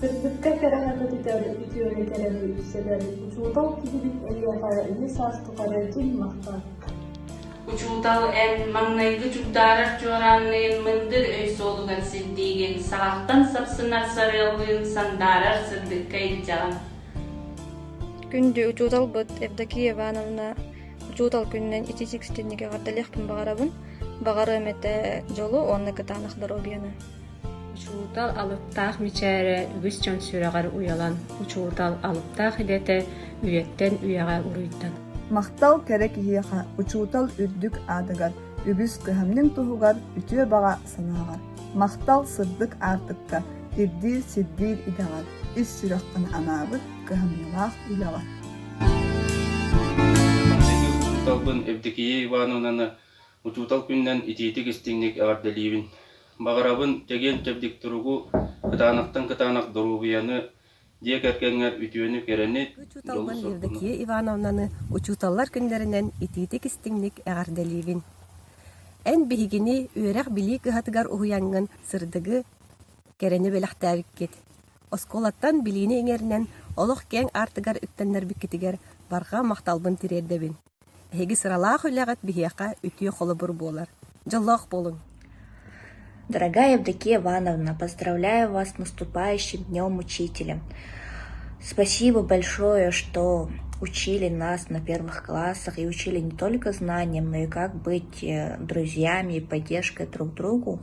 Сырдыкка кэрэҕэ көтүтэр үтүөнү кэрэни үксэтэр учуутал киһибит эйиэхэ үһүс саас тухары туннахтар. Учуутал эн маҥнайгы чугдаарар чуораанныын мындыр өй суолугар сирдиигин, саҕаттан сапсынар сарыаллыын сандаарар сырдыкка илдьэҕин. Күндү учууталбыт Евдокия Ивановна Учуутал күнүнэн ититик ситимник эҕэрдэлиэхпин баҕарабын. Баҕарыам этэ дьолу уонна кытаанах доруобуйаны. Учуутал алыптаах мичээрэ үгүс дьон сүрэҕэр уйалан, учуутал алыптаах идэтэ үйэттэн үйэҕэ уруйдан. Махтал кэрэ киһиэхэ, учуутал үрдүк аатыгар, үгүс кыһамньыҥ туһугар, үтүө баҕа санааҕар. Махтал сырдык аартыкка, ирдиир сирдиир идэҕэр, ис сүрэххин анаабыт кыһамньылаах үлэҕэр. Манна ити учууталбын Евдокия Ивановнаны учуутал күнүнэн итиитик-истиҥник эҕэрдэлиибин. Баҕарабын чэгиэн-чэбдик туругу, кытаанахтан кытаанах доруобуйаны, дьиэ кэргэҥҥэр үтүөнү-кэрэни, учууталбын Евдокия Ивановнаны учууталлар күннэринэн итиитик-истиҥник эҕэрдэлиибин. Эн биһигини үөрэх-билии кыһатыгар уһуйаҥҥын сырдыгы, кэрэни бэлэхтээбиккит. Оскуолаттан билиини иҥэринэн олох киэҥ аартыгар үктэннэрбиккитигэр барҕа махталбын тириэрдэбин. Эһиги сыралаах үлэҕит биһиэхэ үтүө холобур буолар. Дьоллоох буолуҥ! Дорогая Евдокия Ивановна, поздравляю вас с наступающим Днем Учителя. Спасибо большое, что учили нас на первых классах и учили не только знаниям, но и как быть друзьями и поддержкой друг другу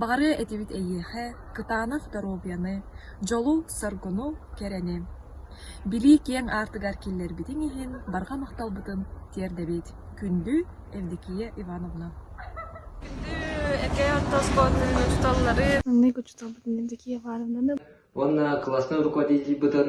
Баҕарыа этибит эйиэхэ кытаанах доруобуйаны, дьолу-соргуну, кэрэни. Билии киэҥ аартыгар киллэрбитиҥ иһин барҕа махталбытын тиэрдэбит. Күндү Евдокия Ивановна. Маннык учууталбытын Евдокия Ивановнаны уонна класснай руководительбытын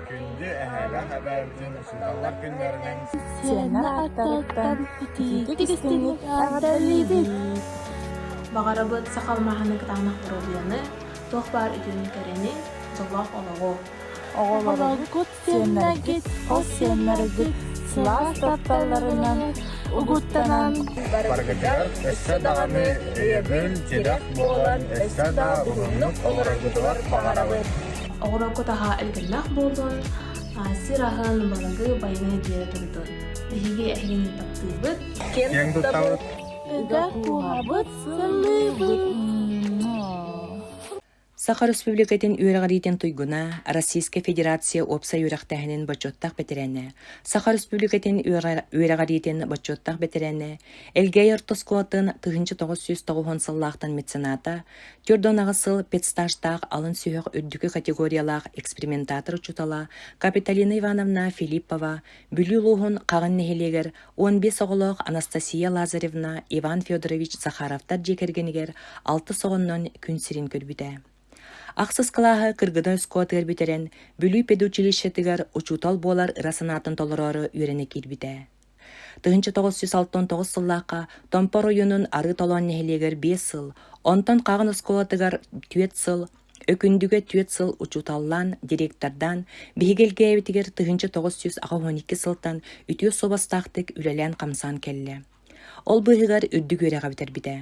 Күндү эһээлэр-эбээлэрбитин учууталлар күннэринэн сиэннэр ааттарыттан итиитик истиҥник эҕэрдэлиибит! Баҕарабыт сахал маһаны кытаанах бородуйаны, туох баар үтүөнү кэрини, олох олоҕу! Оҕолоргут, сиэннэргит, хос сиэннэргит сылаас тапталларынан угуттанан барыгытыгар өссө даҕаны өйөбүл, тирэх буолан өссө да уһуннук олороргутугар баҕарабыт! оҕолорго таһа элбэллэх буоллун сир аһын балагы байыны диэре турдун биһиги эһигин таптыыбыт киэн туттабыт ыгах куһабыт Саха Республикатын үөрэҕириитин туйгуна, Российская Федерация уопсай үөрэхтээһинин бочуоттаах бэтэрээнэ, Саха Республикатын үөрэҕириитин бочуоттаах бэтэрээнэ, Элгээй орто оскуолатын тыһынча тоҕус сүүс тоҕуһун сыллаахтан мецената, Түөрт уон аҕыс сыл педстажтаах алын сүһүөх үрдүкү категориялаах экспериментатор учуутала Капиталина Ивановна Филиппова, Бүлүү улууһун Хаҕын нэһилиэгэр уон биэс оҕолоох Анастасия Лазаревна, Иван Федорович Захаровтар дьиэ кэргэнигэр алтыс оҕоннон күн сирин көрбүтэ. Ахсыс кылааһы кыргыдан өскуотыгар бүтэрэн, Бүлүү педучилищетыгар учуутал буолар ыра санаатын толороору үөрэнэ киирбитэ. Тыһыынча тоҕус сүүс алтан тоҕус сыллаахха Томпо оройуонун Арыы Толоон нэһилиэгэр биэс сыл, онтон Хаҕын оскуолатыгар түөрт сыл, Өкүндүгэ түөрт сыл учууталлаан, директордаан, биһиги элгээбитигэр тыһыынча тоҕус сүүс аҕа уон икки сылтан үтүө суобастаахтык үлэлээн-хамсаан кэллэ. Ол быыһыгар үрдүк үөрэҕи бүтэрбитэ.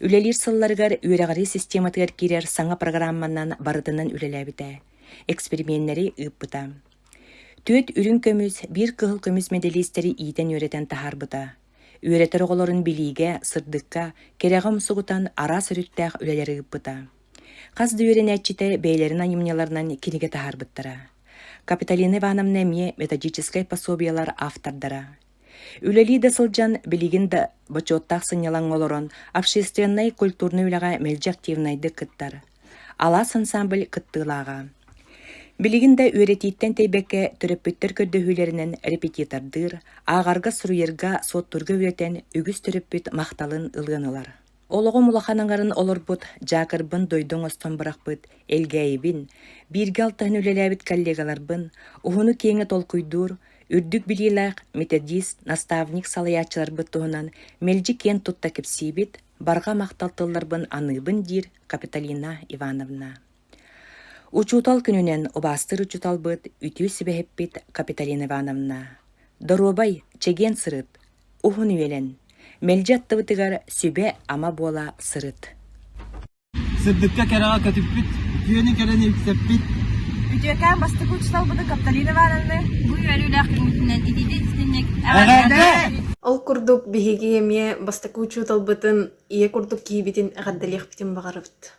Үлэлиир сылларыгар үөрэҕирии систематыгар киирэр саҥа программанан барытынан үлэлээбитэ, эксперименнэри ыыппыта. Түөрт үрүҥ көмүс, биир кыһыл көмүс мэдэлиистэри иитэн-үөрэтэн таһаарбыта. Үөрэтэр оҕолорун билиигэ, сырдыкка, кэрэҕэ умсугутан араас өрүттээх үлэлэри ыыппыта. Хас да үөрэнээччитэ бэйэлэрин айымньыларынан кинигэ таһаарбыттара. Капиталина Ивановна эмиэ методическай пособиелар автордара. Үлэлии да сылдьан, билигин да бочуоттаах сынньалаҥҥа олорон, общественнай культурнай үлэҕэ мэлдьи активнайдык кыттар. Алаас ансаамбыль кыттыылааҕа. Билигин да үөрэтииттэн тэйбэккэ төрөппүттэр көрдөһүүлэринэн репетитордыыр, ааҕарга-суруйарга, суоттуурга үөтэн үгүс төрөппүт махталын ылыан ылар. Олоҕум улахан аҥарын олорбут Дьаакырбын дойду оҥостон бырахпыт Элгээйибин, бииргэ алтыһан үлэлээбит коллегаларбын, уһуну-киэҥи толкуйдуур, үрдүк билиилээх методист, наставник салайааччыларбыт туһунан мэлдьи киэн тутта кэпсиибит, барҕа махтал тылларбын аныыбын диир Капиталина Ивановна. Учуутал күнүнэн убаастыыр учууталбыт, үтүө сүбэһиппит Капиталина Ивановна, доруобай, чэгиэн сырыт, уһун үөлэн, мэлдьи аттыбытыгар сүбэ-ама буола сырыт. Сырдыкка кэрэҕэ көтүппүт, үтүөнү кэрэни үксэппит. Үтүөкээн бастакы учууталбытын Капталина Ивановна бу үөрүүлээх күҥҥүтүнэн ититит ситинник Ол курдук биһиги эмиэ бастакы учууталбытын ийэ курдук киһибитин эҕэрдэлиэхпитин баҕарабыт.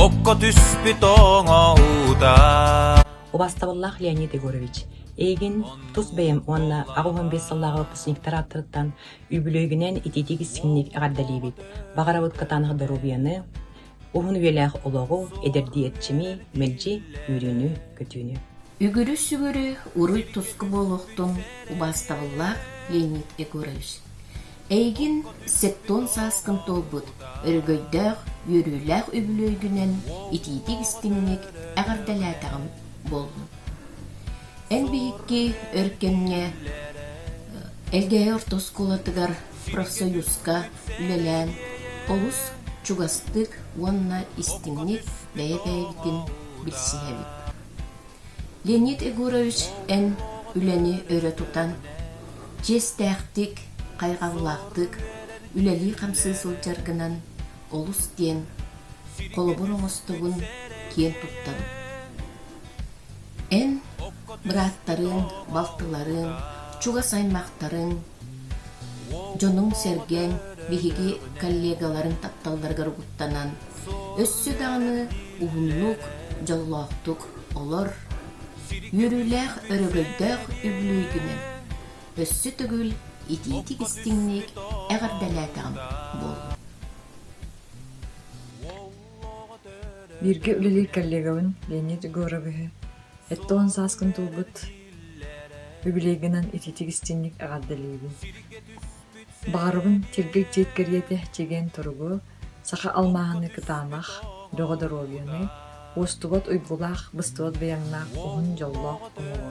Окко түспүт оҥо уута Убастабыллаах Леонид Егорович, эйигин тус бэйэм уонна аҕыс уон биэс сыллааҕы выпускниктар ааттарыттан үбүлүөйгүнэн итиитик истиҥник эҕэрдэлиибит. Баҕарабыт кытаанах доруобуйаны, уһун үйэлээх олоҕу, эдэрдии эрчими, мэлдьи үөрүүнү-көтүүнү. Үгүрү-сүгүрү, уруй-туску буолуохтун, убастабыллаах Леонид Егорович. Эйигин септуон сааскын туолбут өрөгөйдөөх, үөрүүлээх үбүлүөйгүнэн итиитик истиҥник эҕэрдэлээтэҕим буоллун. Эн биһикки өр кэмҥэ Элгээйи орто оскуолатыгар профсоюзка үлэлээн олус чугастык уонна истиҥник бэйэ-бэйэтин билсиһэбит. Леонид Егорович эн үлэни өрө тутан, чиэстээхтик, хайҕаллаахтык үлэлии-хамсыы сылдьар гынан олус диэн холобур оҥостобун киэн туттабын. Эн бырааттарыҥ, балтыларыҥ, чугас аймахтарыҥ дьонуҥ-сэргиҥ биһиги коллегаларыҥ тапталларыгар угуттанан, өссө даҕаны уһуннук, дьоллоохтук олор, үөрүүлээх өрөгөйдөөх үбүлүөй күнүн өссө төгүл итиитик-истиҥник эҕэрдэлээтэҕим буолла. Бииргэ үлэлиир коллегабын Леонид Егоровиһы, эттэ уон сааскын туолбут Үбүлүөйгүнэн итиитик-истиҥник эҕэрдэлиибин! Баҕарабын Чэргэй дьиэ кэриэтэ чэгиэн туругу, саха алмааһыны кытаанах, бөҕө доруобуйаны, уостубат уйгулаах, быстыбат байаҥнаах, уһун дьоллоох оҥоруо.